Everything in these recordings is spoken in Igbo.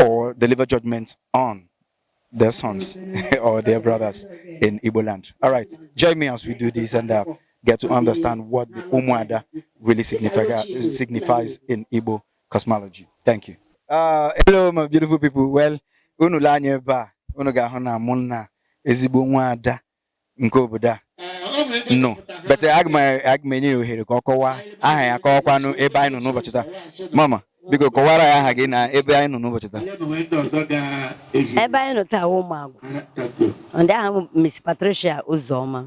or deliver judgments on their sons or their brothers in Igbo land. All right, join me as we do this and uh, get to understand what the Umuada really signifies, signifies in Igbo cosmology. Thank you. Uh, hello, my beautiful people. Well, unu la anya ebe a, unu ga-ahụ na mụ na ezigbo nwa ada nke obodo a nọ but aga m enye ya ohere ka ọ kọwaa aha ya kọwakwanụ ebe anyị nọ n'ụbọchị taa mama biko kọwaara anyị aha gị na ebe anyị nọ n'ụbọchị taa ebe anyị nọ taa wụ ụmụagwụ ndị aha bụ Miss Patricia Uzoma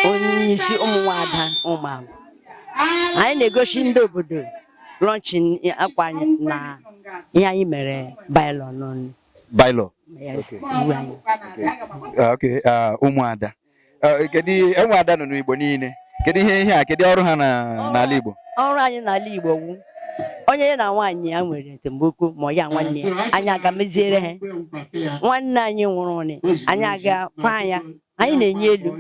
onye isi ụmụ nwaada ụmụagwụ anyị na-egosi ndị obodo launching akwa anyị na ihe anyị mere bylaw bylaw ụmụada kedu ụmụada nọ n'igbo niile kedu ihe ihe a kedu ọrụ ha n'ala igbo ọrụ anyị n'ala igbo wụ onye ya na nwaanyị ya nwere esemokwu ma ya nwanne ya anyị aga meziere ha nwanne anyị nwụrụnụ anyị aga kwaa ya anyị na-enye elu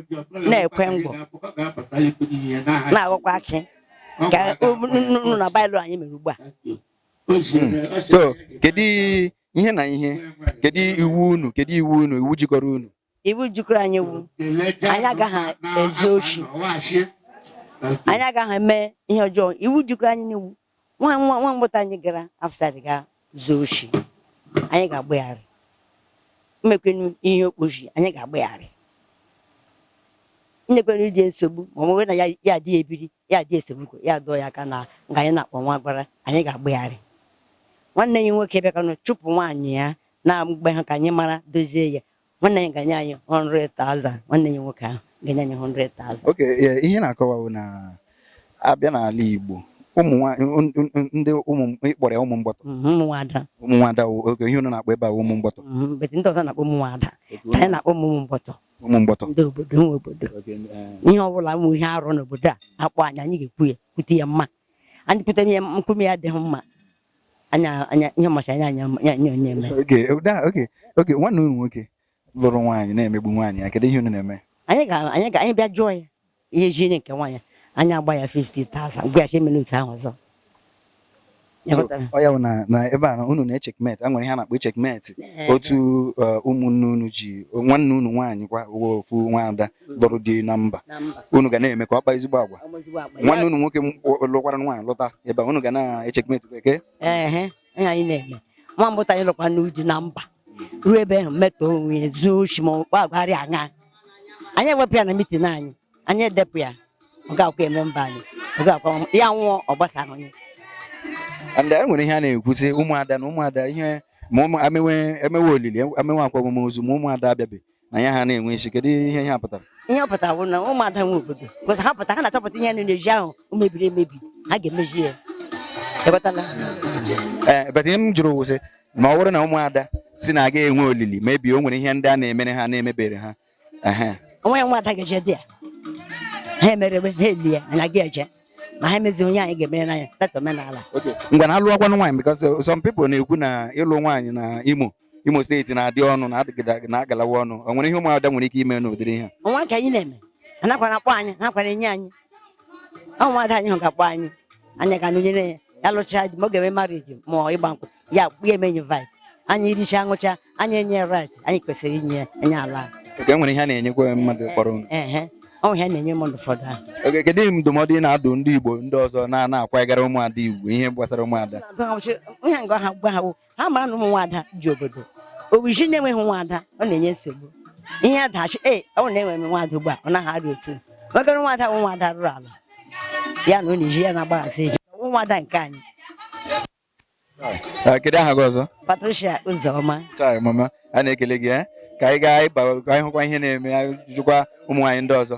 na-ekwe ngwọ na-aghọkwa akị ka ọ nọ na bylaw anyị mere ugbu a hmm. so kedu ihe na ihe kedu iwu unu kedu iwu unu iwu jikọrọ unu iwu jikọrọ anyị wụ anyị agaghị ezu oshi anyị agaghị eme ihe ọjọọ iwu jikọrọ anyị n'iwu nwa nwa nwa mgbọtọ anyị gara after ga zuo oshi anyị ga-agbagharị mekwanụ ihe okpoji anyị ga-agbagharị nyekwanụ di ya nsogbu ma ọ bụ na ya na di ebiri ya na di esemokwu ya dọọ ya aka na nga anyị na-akpọ nwa gbara anyị ga-agbagharị nwanne anyị nwoke bịakanụ chụpụ nwaanyị ya na be ha ka anyị mara dozie ya nwanne anyị ga-enye anyị 100,000 nwanne anyị nwoke ahụ ga-enye anyị 100,000 okay ihe ị na-akọwa bụ na a bịa n'ala Igbo ụmụ ndị ụmụ ị kpọrọ ya ụmụ mgbọtọ mhm, ụmụ nwada ụmụ nwada okay ihe unu na-akpọ ebe a ụmụ mgbọtọ mhm, ndị ọzọ na-akpọ ụmụ nwada anyị na-akpọ ụmụ mgbọtọ ụmụ mgbọtọ ndị obodo nwe obodo ihe ọbụla ụmụ ihe arụ n'obodo a a kpọọ anyị anyị ga-ekwu ya kwute ya mma anyị kwute ya nkwume ya adịghị mma anyị anyị ihe mashị anyị anyị anyị onye eme okay okay okay nwanne unu nwoke lụrụ nwaanyị na-emegbu nwaanyị ya kedu ihe unu na-eme anyị ga anyị ga anyị bịa jụọ ya ihe ji onye nke nwaanyị anyị agba ya 50,000 gwa ya shị emela otu ahụ ọzọ ọ ya bụ na ebe a unu na-echeckmate a nwere ihe a na-akpọ checkmate otu uh, ụmụnne unu ji nwanne unu nwaanyị kwa ofu nwaada lụrụ di na mba unu ga na-eme ka ọ kpaa ezigbo agwa nwanne unu nwoke lụkwara nwaanyị lụta ebe unu ga na-echeckmate eke ee anyị na-eme nwa mgbọtọ anyị lụkwanụ di na mba ruo ebe ahụ metọọ onwe ya zuo oshi ma ọ kpagharị aṅa anyị ewepụ ya na mitin anyị anyị edepụ ya ọ ga-akwa member anyị ọ ga-akwa ya nwụọ ọ gbasara onye and e nwere ihe a na-ekwu sị ụmụada na ụmụada ihe ma ụmụ emewe emewe olili emewe akwamozu ma ụmụada abịabe na ya ha na-enwe isi kedu ihe ihe a pụtara ihe ọ pụtara bụ na ụmụada nwe obodo kwesị ha pụta ha na-achọpụta ihe na-eji ahụ o mebiri emebi ha ga-emezi ya ị ghọtala ee but ihe m jụrụ wụ sị ma ọ bụrụ na ụmụada si na a ga-enwe olili maybe o nwere ihe ndị a na-emere ha na-emebere ha onwe ya nwaada ga-eje di ya ha emerebe ha eli ya na gị eje ma ha emezie onye anyị ga-emere n'anya tata omenala ngwa na alụọkwanụ nwaanyị because uh, some people na-ekwu na ịlụ nwaanyị na Imo Imo State na-adị ọnụ na adịgide na-agalawa ọnụ o nwere ihe ụmụada nwere ike ime n'ụdịrị ihe nwa ka anyị na-eme a nakwa na-akpọ anyị a nakwa na-enye anyị ọ wụ nwaada anyị ahụ ga-akpọ anyị anyị gaa nọnyere ya ya lụchaa di ma ọ ga-eme marriage ma ọ ịgba nkwụ ya ya eme invite anyị erichaa ṅụchaa anyị enye ya right anyị kwesịrị inye ya anyị alaa Okay, e nwere ihe a na-enyekwa mmadụ kpọrọ unu ehe o nwere ihe a na-enye mmadụ ụfọdụ ahụ okay kedu ndụmọdụ ị na-adụ ndị Igbo ndị ọzọ na-ana akwanyegara ụmụada ugwu ihe gbasara ụmụada ihe m ga-agwa ha ha mara na ụmụ nwaada ji obodo obuji na-enweghị nwaada ọ na-enye nsogbu ihe adachi ee ọ bụrụ na e nwere nwaada ugbu a ọ naghị adị otu nwekere nwaada bụ nwaada rụrụ ala ya na ọ na-eji ya na-agbaghazi eji ọ bụ nwaada nke anyị Eh, kedu aha gị ọzọ Patricia Ụzọma Chai, mama a na-ekele gị eh? ka anyị gaa ịba- ka anyị hụkwa ihe a na-eme anyị jụkwa ụmụ nwaanyị ndị ọzọ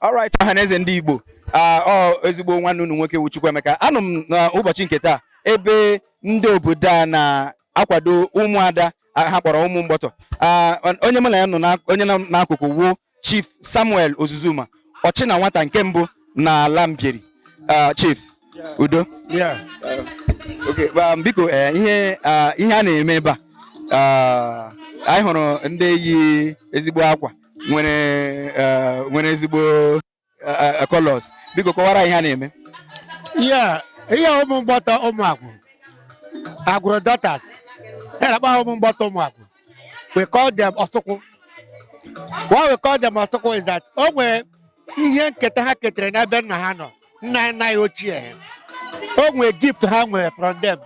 alright Ọhaneze ndị Igbo ọ ezigbo nwanne unu nwoke wụ Chukwuemeka anọ m n'ụbọchị nke taa ebe ndị obodo a na-akwado ụmụada ha kpọrọ ụmụ mgbọtọ onye mụ na ya nọ onye n'akụkụ wụ Chief Samuel Ozuzuma Ọchịnanwata nke mbụ n'ala Mbieri Chief udo um, biko eh, ihe a na-eme ebe a anyị hụrụ ndị yi ezigbo akwa nwere eh, nwere ezigbo colors eh, eh, biko kọwara ihe a na-eme yeah ihe ụmụ mgbọtọ Ụmụagwụ agwụrụ daughters a na-akpọ ha ụmụ mgbọtọ Ụmụagwụ we call them osukwu why we call them osukwu is that o nwere ihe nketa ha ketara n'ebe nna ha nọ nna nna ya ochie ha o nwere gift ha nwere from them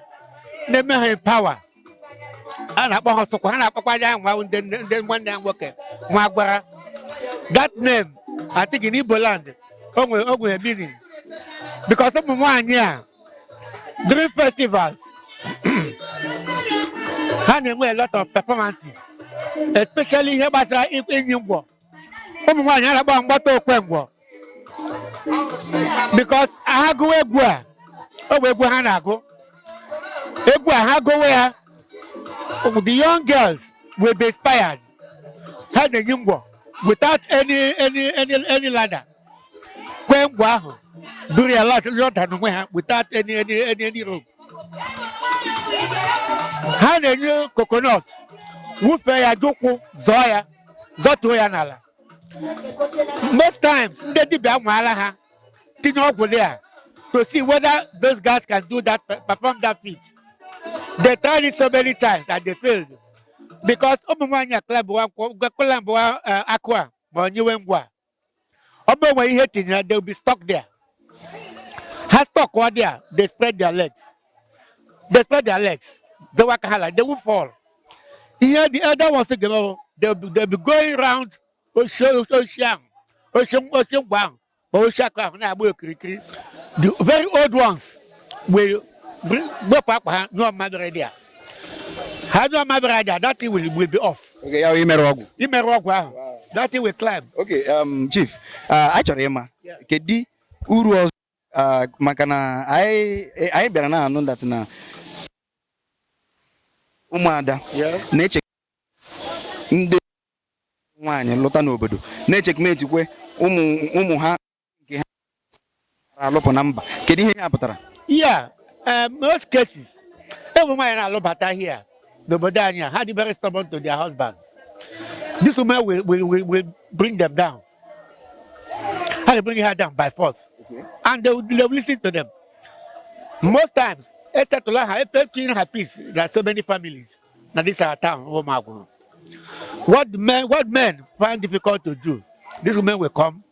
na-eme ha empower a na-akpọ ha osukwu ha na-akpọkwa ya nwa ndị nne- ndị nwanne ya nwoke nwa gwara that name I think in Igbo land o nwere o nwere meaning because ụmụ nwaanyị a during festivals ha na-enwe a lot of performances especially ihe gbasara ịkwa- inyi ngwọ ụmụ nwaanyị a na-akpọ mgbọtọ okwe ngwọ because ha gụwa egwu a ọ bụ egwu ha na-agụ egwu a ha gụwa ya the young girls will be inspired ha na-enyi ngwọ without any any any any ladder kwee ngwọ ahụ buru ya lọt lọta n'onwe ha without any any any any rope ha na-enyi coconut wụfee ya ji ụkwụ zọọ ya zọtuo ya n'ala most times ndị dibịa nwaala ha tinye ọgwụ there to see whether those guys can do that pe- perform that feat they tried it so many times and they failed because ụmụ nwaanyị akụla mbụ wa akụ a ma o nyiwe ngwọ ọ bụ e nwee ihe e tinyere they will be stuck there ha stuck wa there they spread their legs they spread their legs they work hard like they will fall ihe the elder ones ga-eme they will be- they will be going round oshi oshi ahụ oshi oshi ngwọ ahụ ma oshi akwụ ahụ na-agba okirikiri the very old ones will bring gbepụ akwa ha nyụọ mamịrị there ha nyụọ mamịrị there that thing will, will be off Okay, ya wụ imerụ ọgwụ. imerụ ọgwụ ahụ that thing will climb Okay, um, chief, uh, anyị chọrọ ịma kedu uru ọzọ uh, maka na anyị eh, anyị bịara na-anụ that na ụmụada na-eche ndị nwaanyị lụta n'obodo na-checkmate kwe ụmụ ụmụ ha alụpụ na mba kedu ihe ya pụtara yeah eh, most cases ụmụ nwaanyị na-alụbata here n'obodo anyị a ha dị very stubborn to their husband these women will, will, will, will bring them down ha dey bring her down by force and they will, they will listen to them most times e settlela ha epekin her peace there are so many families na this our town Ụmụagwụ what men what men find difficult to do these women will come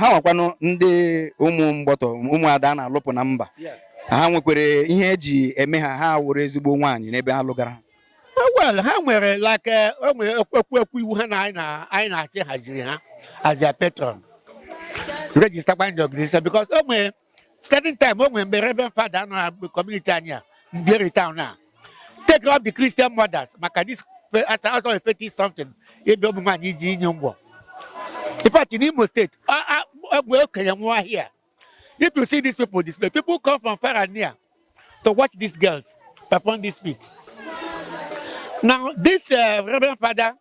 ha nwakwanụ ndị ụmụ mgbọtọ ụmụada a na-alụpụ na mba ha nwekwere ihe e ji eme ha ha wụrụ ezigbo nwaanyị n'ebe ha lụgara ha well ha nwere like eh, o nwere akwụkwọ iwu ha na anyị na-achị haziri ha as their patron register kwa the organization because o nwere certain time o nwere mgbe reverend father nọ na community anyị a mbieri town a take up the christian mothers maka this as a fetish something ebe ụmụ nwaanyị ji enyi ngwọ in fact in imo state egwu okenye nwa ahịa if you see these people display people come from far and near to watch these girls perform this feat now this uh, reverend father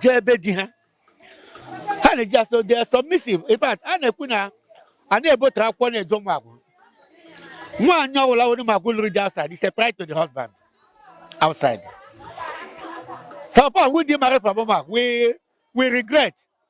jee ebe di ha ha na-eji asọ dị submissive in fact a na-ekwu na a na-ebutara akwụkwọ na-eje Ụmụagwụ nwaanyị ọbụla wụ onye Ụmụagwụ lụrụ di outside is a pride to the husband outside so far we dey marry from mama we we regret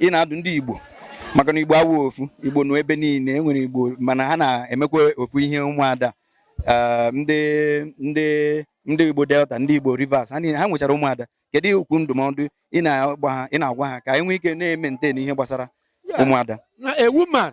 ị na-adụ ndị Igbo maka na Igbo awụ ofu Igbo nọ ebe niile e nwere Igbo mana ha na-emekwa ofu ihe ụmụada eh, ndị ndị ndị Igbo Delta ndị Igbo Rivers ha niile ha nwechara ụmụada kedu okwu ndụmọdụ ị na-agwa ha ị na-agwa ha ka anyị nwee ike na-maintain ihe gbasara ụmụada na a woman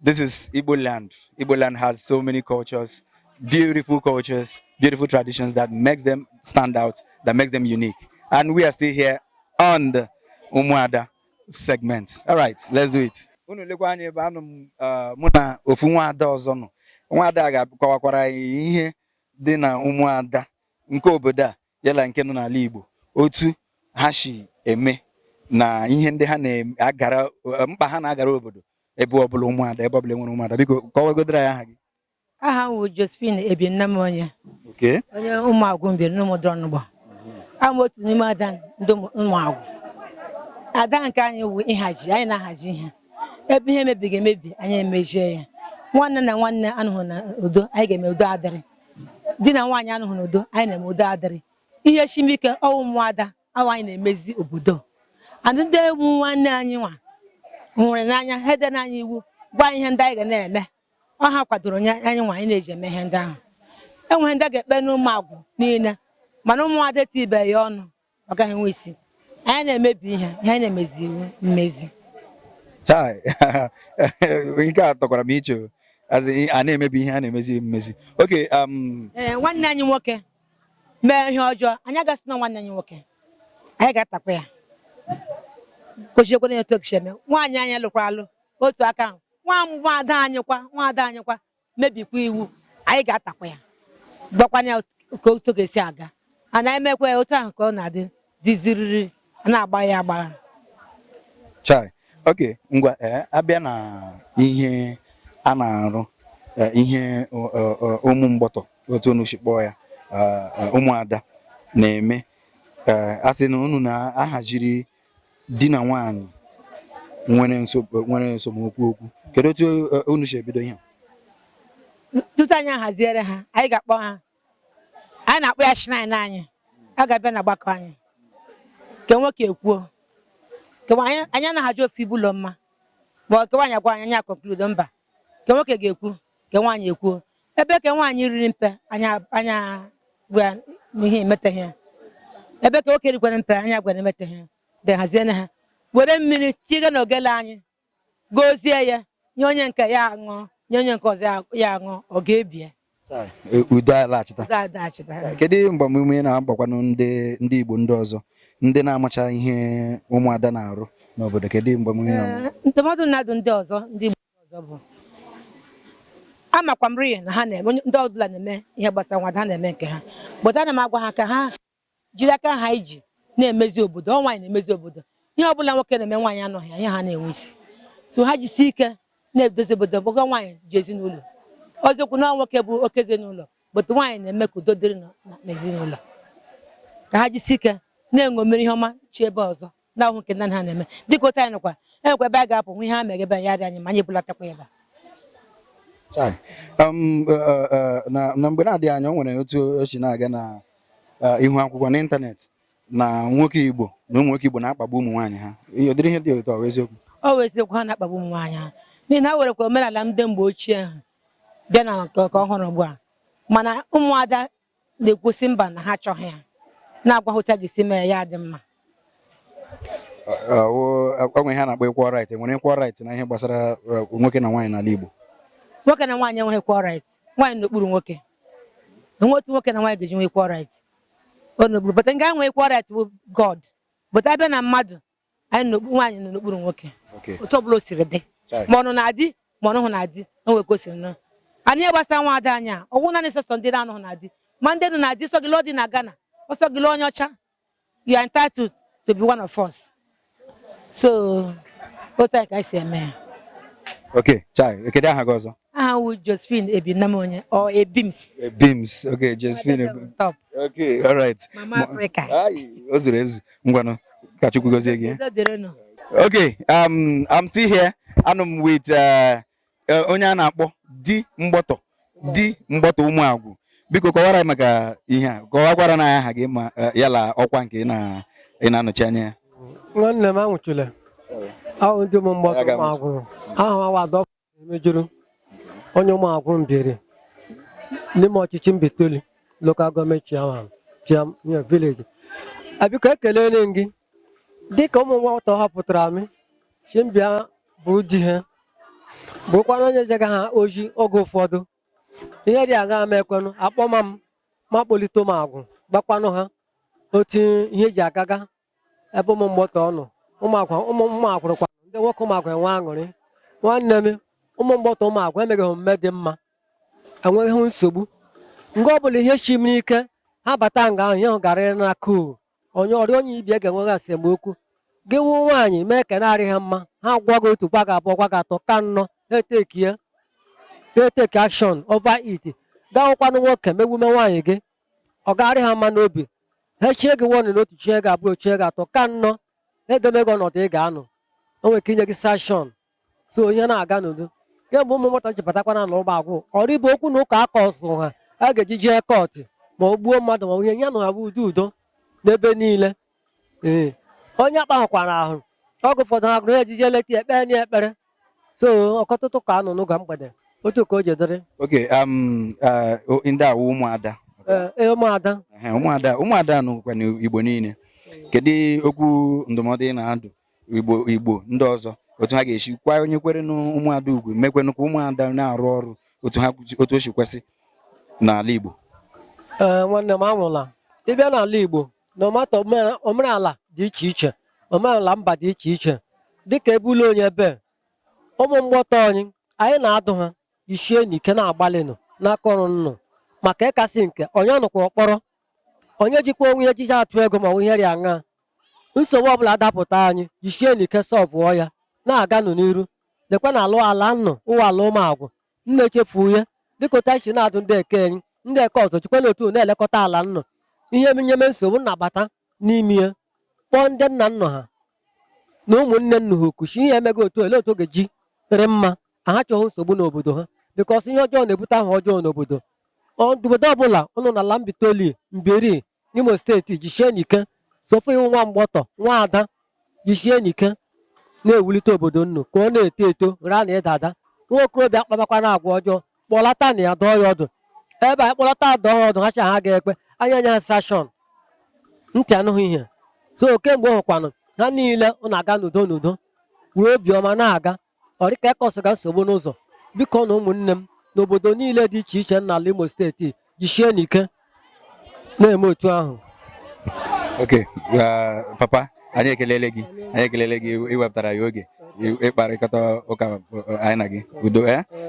This is Igbo land. Igbo land has so many cultures, beautiful cultures, beautiful traditions that makes them stand out, that makes them unique. And we are still here on the Umuada segment. All right, let's do it. Unu lekwa anyị ebe anọ m uh, mụ na ofu nwa ada ọzọ nọ. Nwa ada ga-akọwakwara ihe dị na ụmụada nke obodo a ya la nke nọ n'ala Igbo otu ha shi eme na ihe ndị ha na-agara mkpa ha na-agara obodo ebe ọbụla ụmụada ebe ọbụla enwere ụmụada biko kọwagodoro ya aha gị aha m wụ Josephine Ebinnamonye onye Ụmụagwụ Mbieri na ụmụdọnụgbọ awụ m otu n'ime ada ndị ụmụagwụ ada nke anyị wụ ịhaji anyị na-ahaji ihe ebe ihe mebiga emebi anyị emejie ya nwanne na nwanne anọghị na udo anyị ga-eme udo adịrị di na nwaanyị anọghị n'udo anyị na-eme udo adịrị ihe shime ike ọ wụ ụmụada a wụ anyị na-emezi obodo and ndị ụmụ nwanne anyị nwa nwere n'anya ha edenye anyị iwu gwa ihe ndị anyị ga na-eme ọ ha kwadoro anyị nwa anyị na-eji eme ihe ndị ahụ enweghị ndị a ga-ekpe n'Ụmụagwụ niile mana ụmụada etibeghị ọnụ ọ gaghị enwe isi anyị anaghị emebi ihe ihe anyị na-emezi wụ mmezi chai nke a tọkwara m iche o. As in, anaghị emebi ihe a na-emezi mmezi okay um, ee nwanne anyị nwoke mee ihe ọjọọ anyị agaghị asị na nwanne anyị nwoke anyị ga-atakwa ya kuziekwara ya otu ọ ga-eshi eme nwaanyị anyị lụkwara alụ otu aka ahụ nwa nwaada anyị kwa nwaada anyị kwa mebikwa iwu anyị ga-atakwa ya gwakwanụ ya ka otu ọ ga-esi aga a na-emekwa ya otu ahụ ka ọ na-adị ziziriri anaghị agbagha ya agbagha chai ok ngwa ee eh, a bịa na ihe a na-arụ eh, ihe eh, ụmụ mgbọtọ otu unu shi kpọọ ya ụmụada na-eme a sị na unu na-ahaziri di na nwaanyị nwere esemokwu okwu kedu otu eh, unu shi ebido ihe tutu anyị ahaziere ha anyị ga-akpọ ha anyị na-akpọ ya shrine anyị a ga-abịa na ọgbakọ anyị ke nwoke ekwuo ke ya anyị anaghị ajụ ofu ibu ụlọ mma ma ọ ke nwaanyị agwa anyị anyị a-conclude mba ke nwoke ga-ekwu ke nwaanyị ekwuo ebe ke nwaanyị riri mpe anyị agwa na i meteghị ya ebe ke nwoke rikwanụ mpe anyị agwa na i meteghị ya then hazienụ ha were mmiri tiga na ogele anyị gozie ya nye onye nke ya aṅụọ nye onye nke ọzọ ya aṅụọ ọgụ ebie E, udo alaghachita kedu mgbamume ị na-agbakwanụ ndị ndị Igbo ndị ọzọ ndị na-amacha ihe ụmụada na-arụ n'obodo kedu mgbamume na eh, ndụmọdụ ị na-adụ ndị ọzọ ndị Igbo ndị ọzọ but amakwa m rị na ha na-eme ndị ọbụla na-eme ihe gbasara nwaada ha na-eme nke ha but ana m agwa ha ka ha jiri aka ha iji na-emezi obodo ọ nwaanyị na-emezi obodo ihe ọbụla nwoke na-eme nwaanyị anọghị ya ihe ahụ anaghị enwe isi so ha jisi ike na-edozi obodo because nwaanyị ji ezinụlọ ọ eziokwu na nwoke bụ oke ezinụlọ but nwaanyị na-eme ka udo dịrị n'ezinụlọ ka ha jisi ike na-eṅomiri ihe ọma shi ebe ọzọ ndị ahụ nke nna ha na-eme dịka otu anyị nọkwa e nwekwa ebe a ga-apụ nwe ihe ha mere ebe ya dị anyị mma anyị ebulatakwa ebe a Chai. Um, uh, uh, uh, na na mgbe na-adịghị anya o nwere otu o si na-aga na uh, ihu akwụkwọ n'ịntanetị na nwoke Igbo na ụmụ nwoke Igbo na-akpagbu ụmụ nwaanyị ha Ihe- ụdịrị ihe dị otu ọ bụ eziokwu ọ wụ eziokwu ha na-akpagbu ụmụ nwaanyị ha n'ihi na ha werekwa omenala ndị mgbe ochie ahụ bịa na nke nke ọhụrụ ugbu a mana ụmụada na-ekwu sị mba na ha achọghị ya na-agwa ha otu a ga-esi mee ya dị mma o nwe ihe a na-akpọ equal right e nwere equal right na ihe gbasara eh, nwoke na nwaanyị n'ala Igbo nwoke na nwaanyị enweghị equal right nwaanyị nọ okpuru nwoke enweghị otu nwoke na nwaanyị ga-eji nwee equal right ọ nọ okpuru but nga e nwere equal right bụ God but a bịa na mmadụ anyị nwaanyị nọ n'okpuru nwoke otu ọbụla o siri dị ma ọ nọ na di ma ọ nọhụ na di o nwe ka o siri nọ n'ihe gbasara nwa ada anyị a ọ wụghị naanị sọsọ ndị na-anọhụ na di ma ndị nọ na di ọ sọ gị lụọ di na Ghana ọ sọ gị lụọ onye ọcha you are entitled to be one of us so otu ahụ ka anyị si eme ya okay chai kedu aha gị ọzọ aha m wụ Josephine Ebinamonye or Ebims Ebims okay Josephine Top okay all right Mama Africa o zuru ezu ngwanụ ka Chukwu gozie gị okay um, I'm still here anọ m with uh, uh, onye a na-akpọ di mgbọtọ di mgbọtọ Ụmụagwụ biko kọwara anyị maka ihe a kọwakwara anyị aha gị ma uh, ya la ọkwa nke ị na- ị na-anọchi anya ya nwanne m anwụchule awụ m di ụmụ mgbọtọ Ụmụagwụ aha m wụ dọkịta Emejuru onye Ụmụagwụ Mbieri n'ime ọchịchị Mbaitoli local government chairman chiam nye village abiko ekelele m gị dịka ụmụ nwata họpụtara m shị m bịa bụ di ha bụkwanụ onye jega ha ozi oge ụfọdụ ihe dị aga ama ekwenụ akpọma m m akpọlite Ụmụagwụ gwakwanụ ha otu ihe eji agaga ebe ụmụ mgbọtọ nọ Ụmụagwụ rụkwa ndị nwoke Ụmụagwụ enwe aṅụrị nwanne m ụmụ mgbọtọ Ụmụagwụ emeghị omume dị mma enweghị nsogbu nga ọ bụla ihe shiri ike ha bata nga ahụ ihe ahụ garịrị n'aka onye ọrịa onye ibe ya ga-enweghị esemokwu gị wụ nwaanyị mee nke na-arịghị mma ha gwa gị otu gwa gị abụọ gwa gị atọ nke anọ etekie e take action over it gị wụkwanụ nwoke megbume nwaanyị gị ọ ga-arị ha mma n'obi ha chie gị warning otu chie gị abụọ chie gị atọ ka nnọ edemego ọnọdụ ị ga-anọ o nwere ike inye gị sanction so ihe na-aga n'udo kemgbe ụmụ mgbọtọ ji batakwanụ na ụmụagwụ ọrụ ịbụ okwu na ụka aka ọsụ ha a ga-eji jee kọọtụ ma ọ gbuo mmadụ ma ihe ya na ha bụ udo udo n'ebe niile ee onye akpahụkwara ahụ ọgụ ụfọdụ ha gụrụ eji jee leta ya ekpee nye ekpere so ọkọtụtụ ka anọ n'ụga mgbede otu ka o ji dịrị ok um, uh, o- ndị wụ ụmụada Ee, ee, ụmụada Ehe, ụmụada ụmụada nọkwa n'igbo niile kedu okwu ndụmọdụ ị na-adụ igbo igbo ndị ọzọ otu ha ga-esi kwanyekwara ụmụada ugwu mekwenụ ka ụmụada na-arụ ọrụ otu ha otu o si kwesị n'ala igbo ee nwanne m anwụla ịbịa n'ala igbo na ọmata omenala dị iche iche omenala mba dị iche iche dịka ebe ụlọ onye be ụmụ mgbọtọ anyị anyị na-adụ ha jishienụ ike na-agbalịnụ n'aka ọrụ nnụ maka ịkasị nke onye nọkwa ọkpọrọ onye jikwa onwe ya ejije atụ ego ma ihe rịa aṅa nsogbu ọbụla adapụta anyị jishie ike sọvụọ ya na-aganụ n'iru lekwa na alụ ala nnụ ụwa ala ụmụagwụ nna echefu ihe dịka otu anyị si na-adụ ndị nke anyị ndị nke ọzọ jikwanụ otu na-elekọta ala nnụ ihe nyeme nsogbu na-abata n'ime ya kpọọ ndị nna nna ha na ụmụnne nna ha oku sị ihe emego otu ele otu ọ ga-eji dịrị mma ha chọghị nsogbu n'obodo ha because ihe ọjọọ na-ebute aha ọjọọ n'obodo obodo ọbụla ị nọ n'ala mbaitoli mbieri imo steeti jishienụ ike so far ị wụ nwa mgbọtọ nwa ada jishienụ ike na-ewulite obodo nnu ka ọ na-eto eto rather than ịda ada nwa okorobịa kpabakwana agwa ọjọọ kpọlatanụ ya dụọ ya ọdụ ebe anyị kpọlata dụọ ya ọdụ ha cha ha ga-ekpe anyị enye ya sanction ntị anụghị ihe so kemgbe ahụkwanụ ihe niile na-aga n'udo n'udo were obiọma na-aga ọ dịka ya kọsịga nsogbu n'ụzọ bikonụ ụmụnne m n'obodo niile dị iche iche n'ala Imo steeti jishienụ ike na-eme otu ahụ ok uh, papa anyị ekelele gị anyị ekelele gị iwepụtara ya oge ịkparịkọta ụka uh, anyị na gị udo eh?